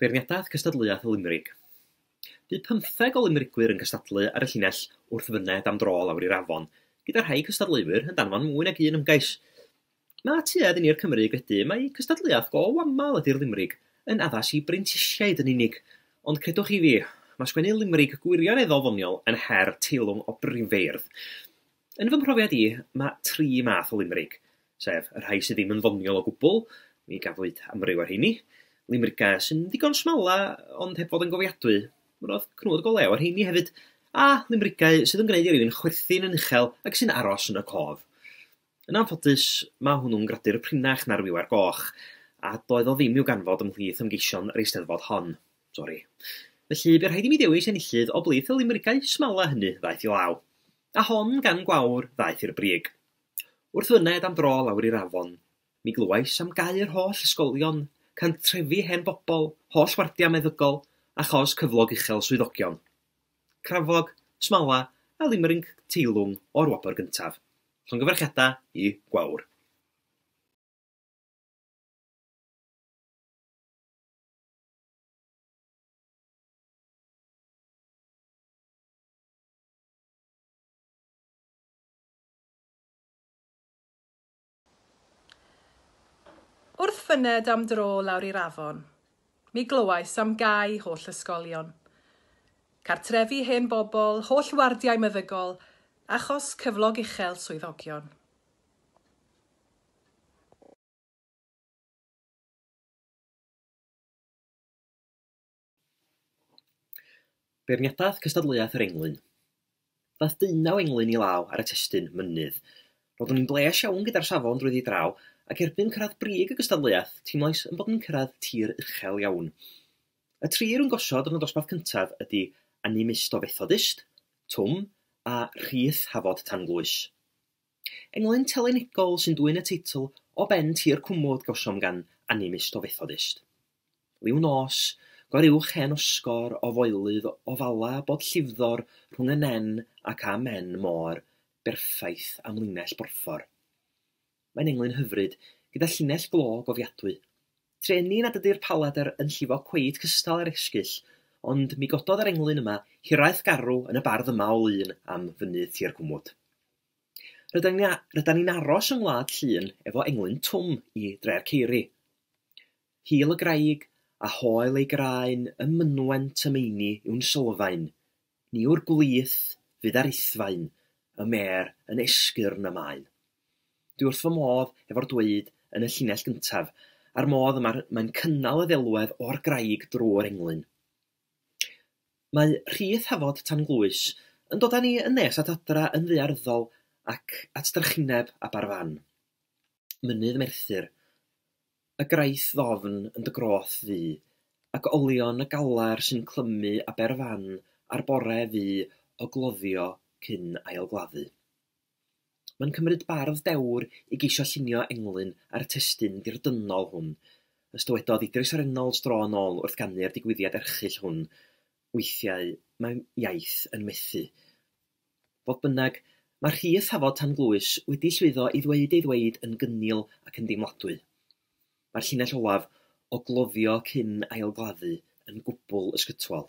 Beirniadaeth Gystadleuaeth y Limrig Bu pymtheg o Limrigwyr yn gystadlu ar y llinell wrth fyned am dro lawr i'r afon, gyda rhai cystadleuwyr yn danfon mwy nag un ymgais. Mae tuedd i ni'r Cymry gredu mai cystadleuaeth go aml ydy'r Limrig, yn addas i brentisiaid yn unig, ond credwch chi fi, mae sgwennu Limrig gwirioneddol ddoniol yn her teilwng o brifeirdd. Yn fy mhrofiad i, mae tri math o limrig, sef y rhai sydd ddim yn ddoniol o gwbl, mi gafwyd amryw o'r rheini, limrigau sy'n ddigon smala ond heb fod yn gofiadwy, roedd cnwd go lew ar rheini hefyd, a limrigau sydd yn gwneud i rywun chwerthin yn uchel ac sy'n aros yn y cof. Yn anffodus, mae hwnnw'n gradur prinach na'r wiwer goch, a doedd o ddim i'w ganfod ymhlith ymgeision yr Eisteddfod hon. Sori. Felly, bu rhaid i mi ddewis enillydd o blith y limrigau smala hynny ddaeth i law. A hon gan gwawr ddaeth i'r brig. Wrth fyned am dro lawr i'r afon, mi glywais am gau yr holl ysgolion, cantrefi hen bobl, holl wardiau meddygol, achos cyflog uchel swyddogion. Crafog, smala, a limrig teilwng o'r wobr gyntaf. Llongyfarchiadau i Gwawr. Wrth fyned am dro lawr i'r afon, mi glywais am gau holl ysgolion, cartrefi hen bobl, holl wardiau meddygol, achos cyflog uchel swyddogion. Beirniadaeth cystadleuaeth yr englyn. Daeth deunaw englyn i law ar y testun mynydd. Roeddwn i'n bleas iawn gyda'r safon drwyddi draw, ac erbyn cyrraedd brig y gystadleuaeth, teimlais yn bod yn cyrraedd tir uchel iawn. Y tri rwy'n gosod yn y dosbarth cyntaf ydy Animistobethodist, Twm, a Rhith Hafod Tanglwys. Englyn telynegol sy'n dwyn y teitl o ben tir cwmwd gawsom gan Animist o Fethodist. Liw nos, gor-uwch hen osgor o foelydd o fala bod llifddor rhwng y nen ac a men môr berffaith am linell borffor. Mae'n englyn hyfryd, gyda llinell glo gofiadwy. Trueni nad ydy'r palader yn llifo cweit cystal â'r esgyll, ond mi gododd yr englyn yma hiraeth garw yn y bardd yma o lun am fynydd tir cwmwd. Rydan ni'n aros yng Ngwlad Llŷn efo englyn twm i Dre'r Ceiri. Hil y graig a hoel ei graen ym mynwent y meini yw'n sylfaen, ni yw'r gwlith fydd ar ithfaen y mêr yn esgyrn y maen. Dwi wrth fy modd efo'r dweud yn y llinell gyntaf a'r modd y mae'n cynnal y ddelwedd o'r graig drwy'r englyn. Mae rhith Hafod tan Glwys yn dod â ni yn nes at adra yn ddaearyddol ac at drychineb Aberfan, Mynydd Merthyr, y Graith Ddofn yn dy groth ddu, ac olion y galar sy'n clymu Aberfan ar bore fu o gloddio cyn ail-gladdu. Mae'n cymryd bardd dewr i geisio llunio englyn ar y testun ddirdynnol hwn, os dywedodd Idris Reynolds dro yn ôl wrth ganu'r digwyddiad erchyll hwn, Weithiau mae iaith yn methu. Fodd bynnag, mae Rhys Hafod Tan-glwys wedi llwyddo i ddweud ei ddweud yn gynnil ac yn deimladwy. Mae'r llinell olaf o gloddio cyn ail-gladdu yn gwbl ysgytwol.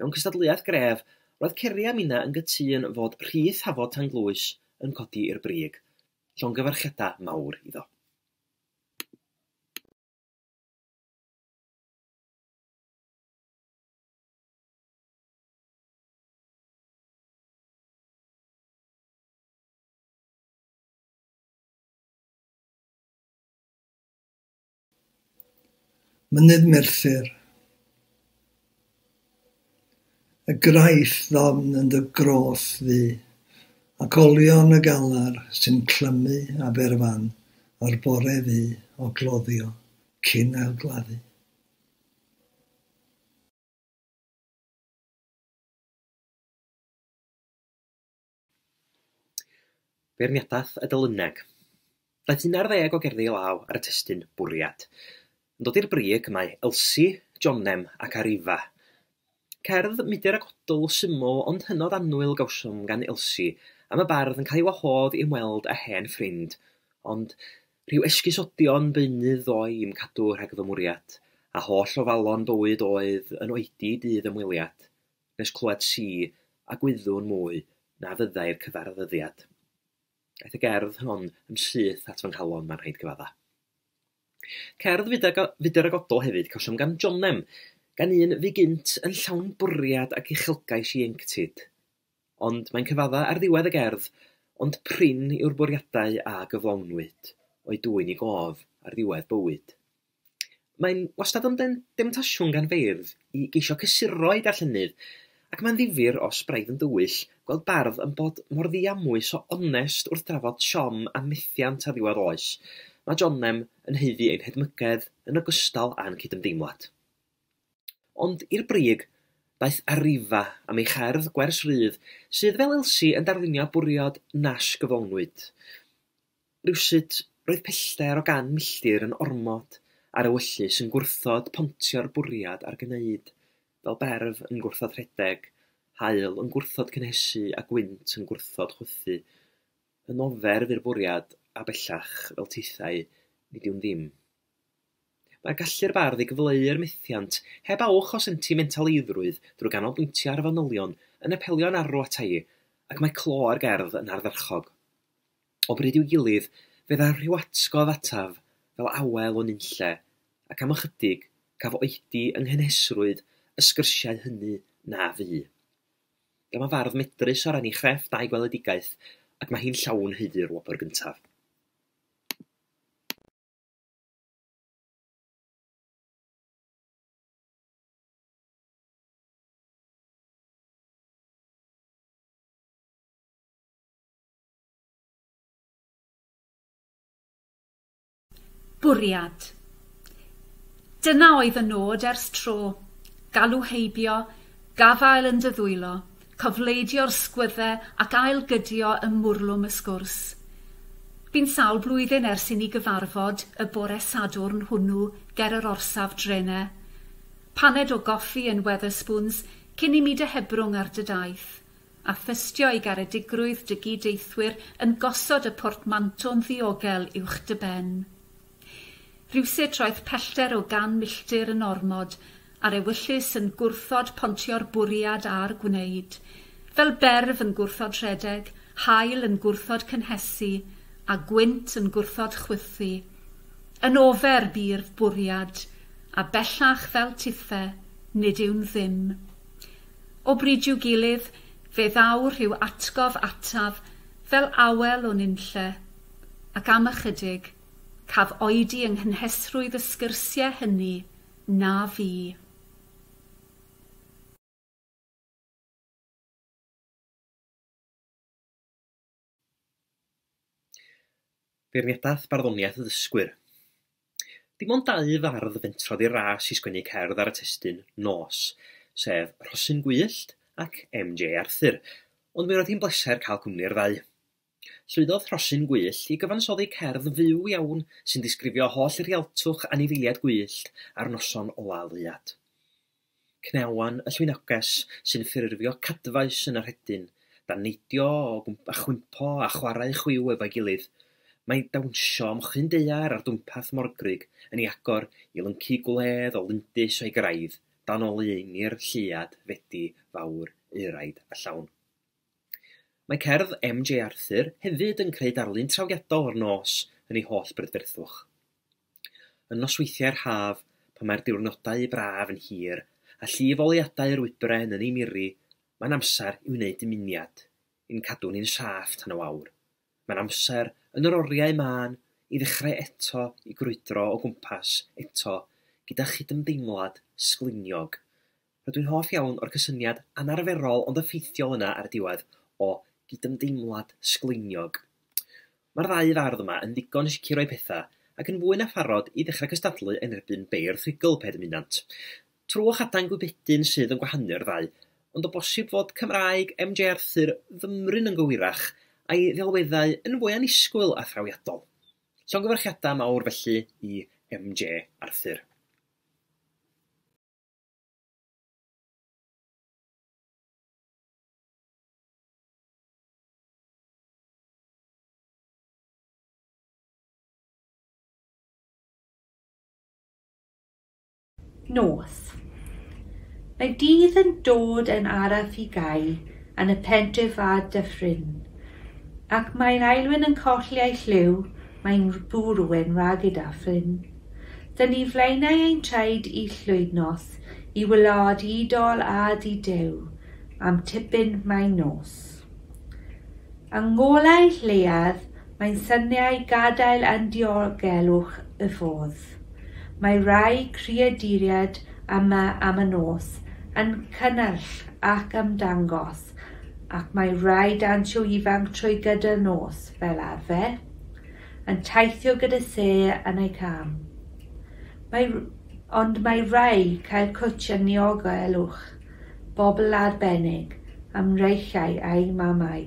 Mewn cystadleuaeth gref, roedd Ceri a Mina yn gytûn fod rhith Hafod Tanglwys yn codi i'r brig. Llongyfarchiadau mawr iddo. Mynydd Merthyr. Y graiff ddofn yn dy groth ddu, ac olion y galar sy'n clymu Aberfan o'r bore fu o gloddio cyn ailgladdu. Beirniadaeth y Delyneg. Daeth un ar ddeg o gerddi law ar y testun Bwriad. Yn dod i'r brig mae Elsi, Jonem ac Arifa. Cerdd mudur ac odl syml ond hynod annwyl gawsom gan Elsi am y bardd yn cael ei wahodd i ymweld â hen ffrind, ond rhyw esgusodion beunydd ddoe i'm cadw rhag fy mwriad, a holl ofalon bywyd oedd yn oedi i dydd ymweliad. Nes clywed si a gwyddwn mwy na fyddai'r cyfarfyddiad. Aeth y gerdd hon yn syth at fy nghalon, mae'n rhaid cyfadda. Cerdd fudr a godol hefyd cawsom gan Jonem, gan un fu gynt yn llawn bwriad ac uchelgais ieuenctid. Ond mae'n cyfadda ar ddiwedd y gerdd, ond prin yw'r bwriadau a gyflawnwyd, o'u dwyn i gof ar ddiwedd bywyd. Mae'n wastad yn demtasiwn gan feirdd i geisio cysuro eu darllenydd, ac mae'n ddifyr, os braidd yn dywyll, gweld bardd yn bod mor ddiamwys o onest wrth drafod siom a methiant a ddiwedd oes. Mae Jonem yn haeddu ein hedmygedd yn ogystal â'n cydymdeimlad. Ond i'r brig, daeth Arriva am ei cherdd gwers rydd, sydd, fel Elsie, yn darlunio bwriad nas gyflawnwyd. Rywsut, roedd pellter o gan milltir yn ormod ar ewyllys yn gwrthod pontio'r bwriad ar gneyd, fel berf yn gwrthod rhedeg, haul yn gwrthod cynhesu a gwynt yn gwrthod chwythu. Yn oferf i'r bwriad, a bellach, fel tithau, nid yw'n ddim. Mae'r gallu'r bardd i gyfleu'r methiant heb awch o sentimentaleidrwydd drwy ganolbwyntio ar fanylion yn apelio'n arw ata i, ac mae clo ar gerdd yn ardderchog. O bryd i'w gilydd, fe ddaw rhywatgof ataf fel awel o nunlle, ac am ychydig, caf oedi yng nghynhesrwydd y sgyrsiau hynny na fu. Dyma y fardd medrus o ran ei chrefft a'i gweledigaeth, ac mae hi'n llawn haeddu'r wobr gyntaf. Bwriad. Dyna oedd y nod ers tro, galw heibio, gafael yn dy ddwylo, cofleidio'r sgwydde ac ail-gydio ym mwrlwm y sgwrs. Bu'n sawl blwyddyn ers i ni gyfarfod y bore Sadwrn hwnnw ger yr orsaf drene. Paned o goffi yn Wetherspoons cyn i mi dy hebrwng ar dy daith. a thystio i garedigrwydd dy gyd-deithwyr yn gosod y portmanto'n ddiogel uwch dy ben. Rywsut roedd pellter o gan milltir yn ormod, a'r ewyllys yn gwrthod pontio'r bwriad a'r gwneud. Fel berf yn gwrthod rhedeg, haul yn gwrthod cynhesu, a gwynt yn gwrthod chwythu. Yn ofer bu'r bwriad, a bellach fel tithe, nid yw'n ddim. O bryd i'w gilydd, fe ddaw rhyw atgof ataf fel awel o nunlle, ac am ychydig, caf oedi yng nghynhesrwydd y sgyrsiau hynny, na fu. Beirniadaeth barddoniaeth y ddysgwyr. Dim ond dau fardd fentrodd i'r ras i sgwennu cerdd ar y testun nos, sef Rhosyn Gwyllt ac MJ Arthur, ond mi roedd hi'n bleser cael cwmni'r ddau. Llwyddodd Rhosyn Gwyllt i gyfansoddi cerdd fyw iawn sy'n disgrifio holl rialtwch anifeiliaid gwyllt a'r noson ola' leuad. Cneuon y llwynoges sy'n ffurfio cadfaes yn y rhedyn, dan neidio a chwympo a chwarae chwiw efo'i gilydd. Mae dawnsio am chyn daear ar dwmpath morgrug yn ei agor i lyncu gwledd o lindys o'i graidd dan oleuni'r lleuad fedi fawr euraid a llawn. Mae cerdd MJ Arthur hefyd yn creu darlun trawiadol o'r nos yn ei holl brydferthwch. Yn nosweithiau'r haf, pan mae'r diwrnodau braf yn hir a llif oleuadau yr wybren yn ei miri, mae'n amser i wneud dymuniad, i'n cadw ni'n saff tan y wawr. Mae'n amser, yn yr oriau mân, i ddechrau eto i grwydro o gwmpas eto gyda chydymdeimlad sgliniog Rydw i'n hoff iawn o'r cysyniad anarferol ond effeithiol yna ar y diwedd o gydymdeimlad sgleiniog. Mae'r ddau fardd yma yn ddigon sicr o'u pethau ac yn fwy na pharod i ddechrau cystadlu yn erbyn beirdd rhugl pe dymunant. Twrw a chadain gwybedyn sydd yn gwahanu'r ddau, ond o bosib fod Cymraeg MJ Arthur fymryn yn gywirach a'i ddelweddau yn fwy annisgwyl a thrawiadol. Llongyfarchiadau mawr felly i MJ Arthur. Nos. Mae dydd yn dod yn araf i gau yn y pentre fa Dyffryn, ac mae'n aelwyn yn colli ei lliw, mae'n bwrw'n rhag i Dyffryn Dŷn ni flaenau ein traed i llwydnos i wlad i dol a di Duw am tipyn mae nos. Yng ngolau lleiad mae'n syniau gadael yn diogelwch y fodd. Mae rhai creaduriaid yma am y nos yn cynnyrch ac ymdangos ac mae rhai dansio ifanc trwy gydol nos fel arfer. yn teithio gyda lle yn eu cân. Mae, ond mae rhai cael cwtsh yn niogelwch, bobl arbennig, a mreichiau a'u mamau.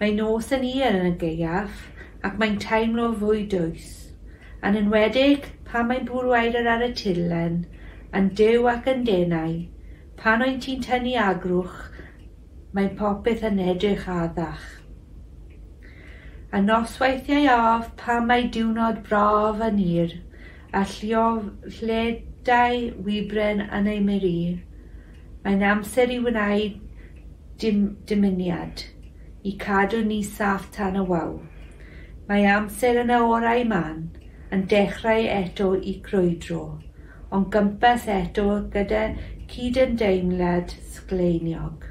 Mae nos yn hir yn y gaeaf ac mae'n teimlo fwy dwys, yn enwedig pan mae'n bwrw aered ar y tirlen, yn duw ac yn denau, pan wyt ti'n tynnu agrwch mae popeth yn edrych addach. A nosweithiau af pan mae diwrnod braf a nyr, a lliofledau wibren yn ei meri, mae'n amser i wneud dim, dymuniad, i cadw ni saff tan y wawr. Mae amser yn y orau man yn dechrau eto i grwydro. ond gympes eto gyda chydymdeimlad sgleiniog.